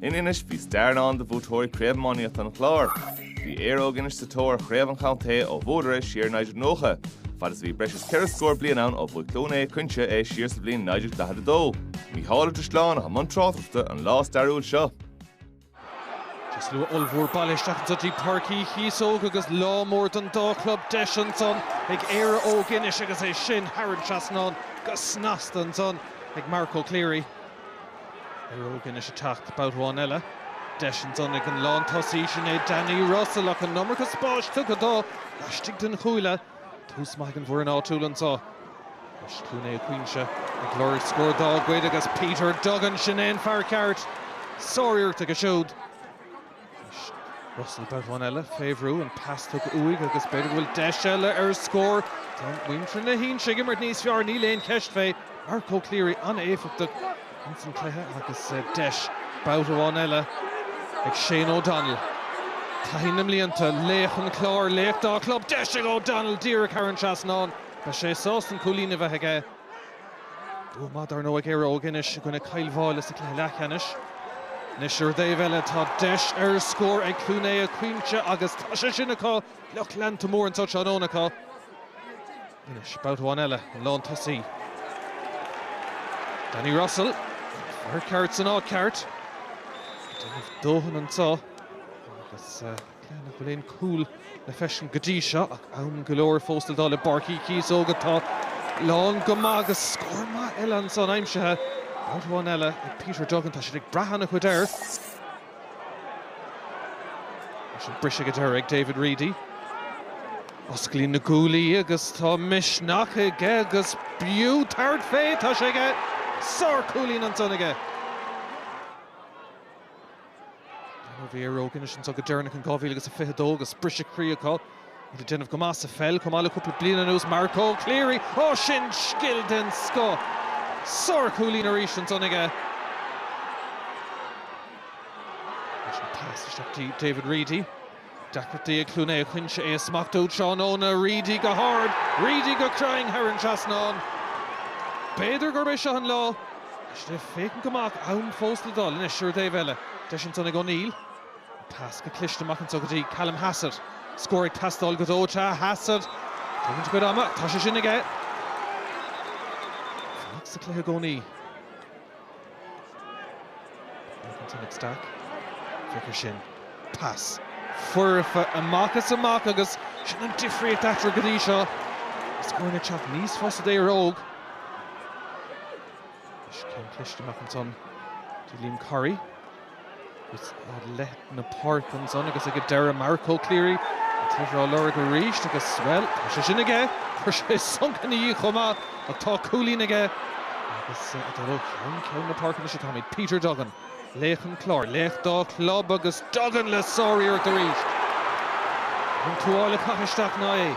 In Inis bhí stair i ndán do bhuaiteoirí Craobh Iománaíochta an Chláir. Bhí Éire Óg Inis sa tóir ar Chraobh an Chontae ó bhuadar é siar 1990, fad is a bhí breis is ceithre scór bliain ann ó bhuaigh Cluain Aodha Cuinche é siar sa bhliain 1942. Mícheál Ó Drisleáin atá i mbun tráchtaireachta an lá stairiúil seo. Is slua ollmhór bailithe isteach anseo go dtí Páirc Uí Chíosóg agus lá mór don dá chlub deis ansan ag Éire Óg Inis agus é sin thar an trasnán go snasta ansan ag Marco Cleary. Éire Óg Inis ag teacht babhta amháin eile. Deis ansan ag an lántosaí sin é Danny Russell ach an iomarca spáis tugtha dó laistigh den chúile. Tús maith ag an bhfoireann áitiúil anseo. Anois Cluain Aodha Cuinche ag lorg scór dá gcuid agus Peter Duggan, sin é an fear ceart. Sár-iarracht aige siúd. Russell babhta amháin eile fé bhrú, an pas tugtha uaidh agus b'fhéidir go bhfuil deis eile ar scór. Tá muintir na hInse ag imirt níos fearr, níl aon cheist fé. Marco Cleary an-éifeachtach ins an cluiche agus deis babhta amháin eile ag Shane O'Donnell. Taithí na mblianta, laoch an Chláir, laoch dá chlub. Deis ag O'Donnell díreach thar an trasnán. Beidh sé sásta an cúilín a bheith aige. Bua maith dar ndóigh ag Éire Óg Inis i gcoinne Cill Mháille sa chluiche leathcheannais. Anois ar an dtaobh eile tá deis ar scór ag Cluain Aodha Cuinche agus tá sé sin acu! Lucht leanta mór anseo tráthnóna acu. Anois babhta amháin eile an lán tosaí. Danny Russell, fear ceart san áit ceart. Déanamh dóthain anseo agus. Cé nach bhfuil aon chúl le feiscint go dtí seo ach am go leor fós le dul i bPáirc Uí Chíosóg atá lán go maith agus scór maith eile ansan aimsithe. Babhta amháin eile ag Peter Duggan, tá siad ag brath ana chuid air. Sin briseadh ag deireadh ag David Reidy. Osclaíonn na guaillí agus tá misneach aige agus b'fhiú tabhairt fé! Tá sé aige! Sár cúilín ansan aige! Bhí Éire Óg Inis anseo go deireanach in 2022 agus briseadh croí acu. Iad ag déanamh go maith sa pheil chomh maith le cúpla bliain anuas. Marco Cleary, ó sin scil den scoth! Sár-chúilín arís ansan aige. Pas isteach go dtí David Reidy. Deacrachtaí ag Cluain Aodha Cuinche é a smachtú tráthnóna. Reidy go hard, Reidy go cruinn thar an trasnán. B'fhéidir gurb é seo an lá. Is le féachaint amach ann fós le dul anois ar an taobh eile. Deis ansan ag O'Neill. An pas go cliste amach anseo go dtí Callum Hassett. Scór ag teastáil go dóite. Hassett. Tógann a chuid ama. Tá sé sin aige. Fanacht sa chluiche i gcónaí. Ansan ag Stack, féach air sin, pas foirfe amach is amach agus sin an difríocht eatarthu go dtí seo. Scóranna ag teacht níos fusa d'Éire Óg Inis. Céim cliste amach ansan do Liam Corry. Is ar leath na páirce ansan agus ag an deireadh, Marco Cleary an t-athrá á lorg arís agus, bhuel, tá sé sin aige! Chuir sé sonc ina dhiaidh chomh maith ach tá cúilín aige agus é ag dul ó cheann ceann na páirce anois. Sea, táimid. Peter Duggan, laoch an Chláir, laoch dá chlub agus Duggan le sáriarracht arís! Níl an tuáille caite isteach ná é.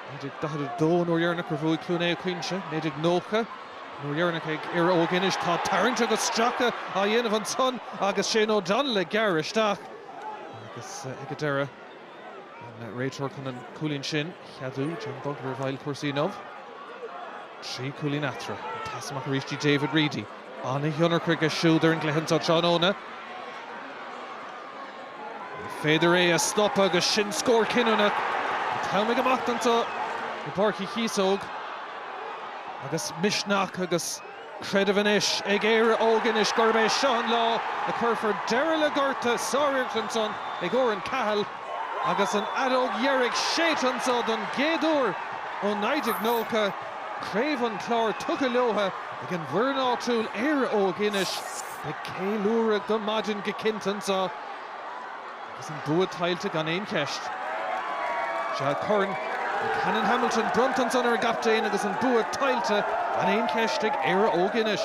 1942, An uair dheireanach ar bhuaigh Cluain Aodha Cuinche. 1990, An uair dheireanach ag Éire Óg Inis. Tá tarraingt agus stracadh á dhéanamh ansan agus Shane O'Donnell ag gearradh isteach. Agus ag an deireadh, an réiteoir chun an cúilín sin a cheadú, John Bugler, i bhfeighil cúrsaí inniu. Trí chúilín eatarthu. An pas amach arís dtí David Reidy. An-thionchar aige siúd ar an gcluiche seo tráthnóna. Ní féidir é a stopadh agus sin scór cinniúnach. An t-am ag imeacht anseo i bPáirc Uí Chíosóg agus misneach agus creideamh anois ag Éire Óg Inis gurb é seo an lá a chuirfear deireadh le gorta, sárimirt ansan ag Oran Cahill agus an fheadóg dheiridh séidte anseo don gcéad uair ó 1990. Craobh an Chláir tugtha leotha. Ag an bhfoireann áitiúil Éire Óg Inis beidh ceiliúradh go maidin go cinnte anseo agus an bua tuillte gan aon cheist. Sea, Corn Canon Hamilton bronnta ansan ar an gcaptaen agus an bua tuillte gan aon cheist ag Éire Óg Inis.